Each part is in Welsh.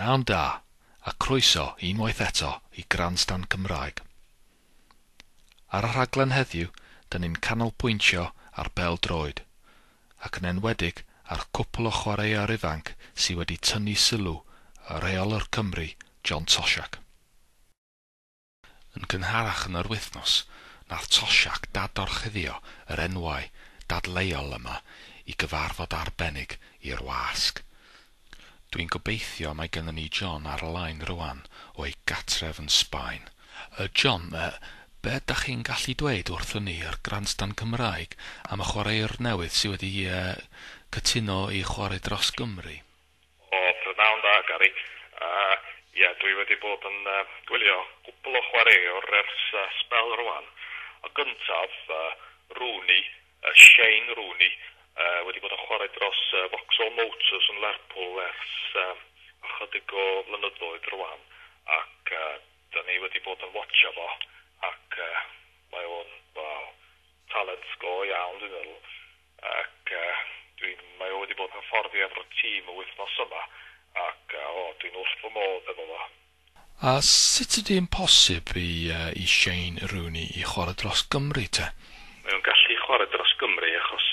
Pnawn da, a croeso unwaith eto i Grandstand Cymraeg. Ar y rhaglen heddiw, dyn ni'n canolbwyntio ar bêl-droed, ac yn enwedig ar cwpl o chwaraewyr ifanc sydd wedi tynnu sylw y rheolwr Cymru, John Toshack. Yn gynharach yn yr wythnos, nath Toshack dad-orchuddio yr enwau dadleuol yma i gyfarfod arbennig i'r wasg. Dwi'n gobeithio mae gynnon ni John ar y line rŵan o ei gatref yn Sbaen. Yy John, yy, be' dach chi'n gallu dweud wrthon ni ar Grandstand Cymraeg am y chwaraewr newydd sy' wedi yy cytuno i chwarae dros Gymru? O, prynhawn dda, Gary. Yy, ie, dwi wedi bod yn, yy, gwylio cwpwl o chwaraewr ers, yy, sbel rwan. Y gyntaf, yy, Rooney, yy, Shane Rooney, yy, wedi bod yn chwarae dros, yy, Vauxhall Motors yn Lerpwl ers, yy, ychydig o flynyddoedd rwan, ac, yy, 'da ni wedi bod yn watsio fo, ac, yy, mae o'n, wel, talent go iawn, dwi'n meddwl. Ac dwi'n... mae o wedi bod yn hyfforddi efo'r tîm y wythnos yma ac o, dwi'n wrth fy modd efo fo. A sut ydi'n posib i Shane Rooney i chwarae dros Gymru te? Mae o'n gallu chwarae dros Gymru achos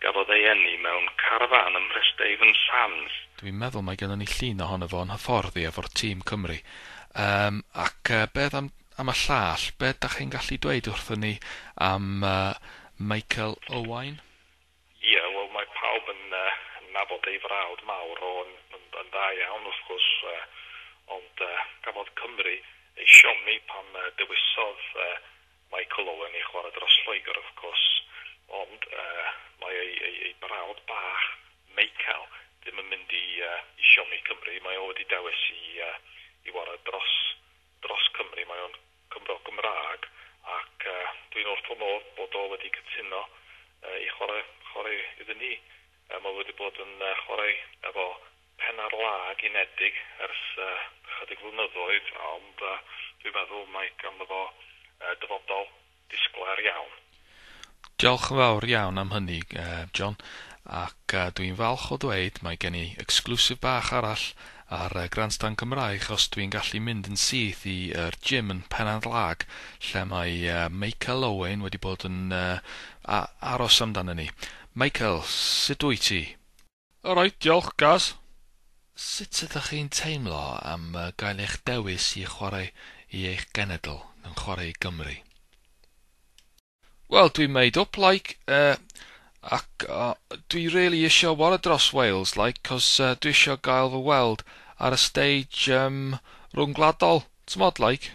gafodd ei eni mewn carafán ym Mhresdavon Sands. Dwi'n meddwl mae gennon ni llun ohono fo yn hyfforddi efo'r tîm Cymru. Yym ac beth am am y llall, be dach chi'n gallu dweud wrthyn ni am Michael Owain? Ie, wel mae pawb yn nabod ei frawd mawr, ro'n yn dda iawn wrth gwrs, ond cafodd Cymru ei siomi pan dewisodd Michael Owen i chwarae dros Lloegr wrth gwrs, ond mae ei brawd bach, Meicael, ddim yn mynd i siomi Cymru, mae o wedi dewis i warae dros dros Cymru, mae o'n Gymro Gymraeg ac dwi'n wrth fy modd bod o wedi cytuno i chwarae chwarae iddyn ni. Mae o wedi bod yn chwarae efo pen ar lag unedig ers ychydig flynyddoedd ond dwi'n meddwl mae ganddo fo dyfodol Disglair iawn. Diolch yn fawr iawn am hynny, John, ac dw i'n falch o ddweud mae gen i exclusive bach arall ar Grandstand Cymraeg os dw i'n gallu mynd yn syth i yr gym yn Pennant Lag lle mae Meical Owain wedi bod yn aros amdana ni. Meical, sut wyt ti? Alright, diolch, Gaz. Sut ydych chi'n teimlo am gael eich dewis i chwarae i eich genedl, yn chwarae i Gymru? Wel, dwi'n made up, like, uh, ac uh, dwi really eisiau wara dros Wales, like, cos uh, dwi eisiau gael fy weld ar y stage um, rhwng gwladol, t'mod, like.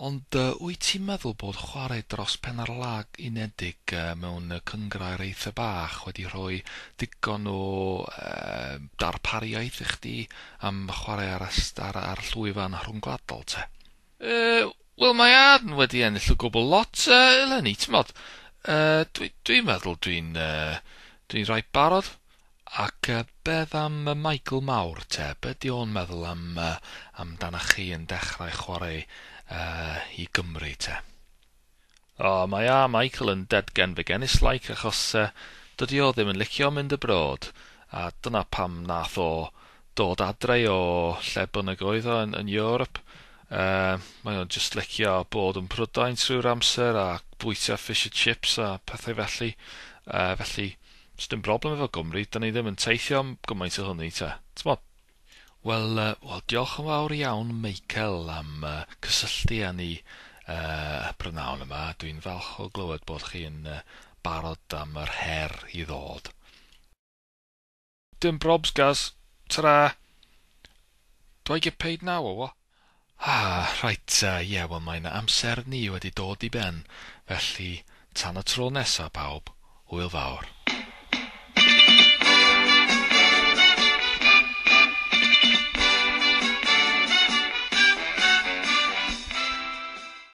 Ond wyt ti'n meddwl bod chwarae dros pen ar lag unedig mewn cynghrair eitha bach wedi rhoi digon o darpariaeth i chdi am chwarae ar y ar y llwyfan rhyngwladol te? Yy wel mae Aaron wedi ennill y gwbl lot eleni t'mod yy dwi dwi'n meddwl dwi'n yy dwi'n reit barod. Ac beth am Michael Mawr te? Be ydy o'n meddwl am amdanach chi yn dechrau chwarae i Gymru te? O, mae a Michael yn dead-gen fy genis like achos dydy o ddim yn licio mynd abroad, a dyna pam nath o dod adre o lle bynnag oedd o yn Europe. Mae o'n jyst licio bod yn Prydain trwy'r amser a bwyta fish a chips a pethau felly, felly Does dim broblem efo Gymru, dan ni ddim yn teithio am gymaint o hynny te, t'mod? Wel, wel diolch yn fawr iawn Michael am cysylltu â ni yy prynawn yma, dwi'n falch o glywed bod chi'n barod am yr her i ddod. Dim probs Gaz, tara! Do I get paid now or what? Ah, reit, ie, wel mae 'na amser ni wedi dod i ben, felly tan y tro nesa pawb, hwyl fawr.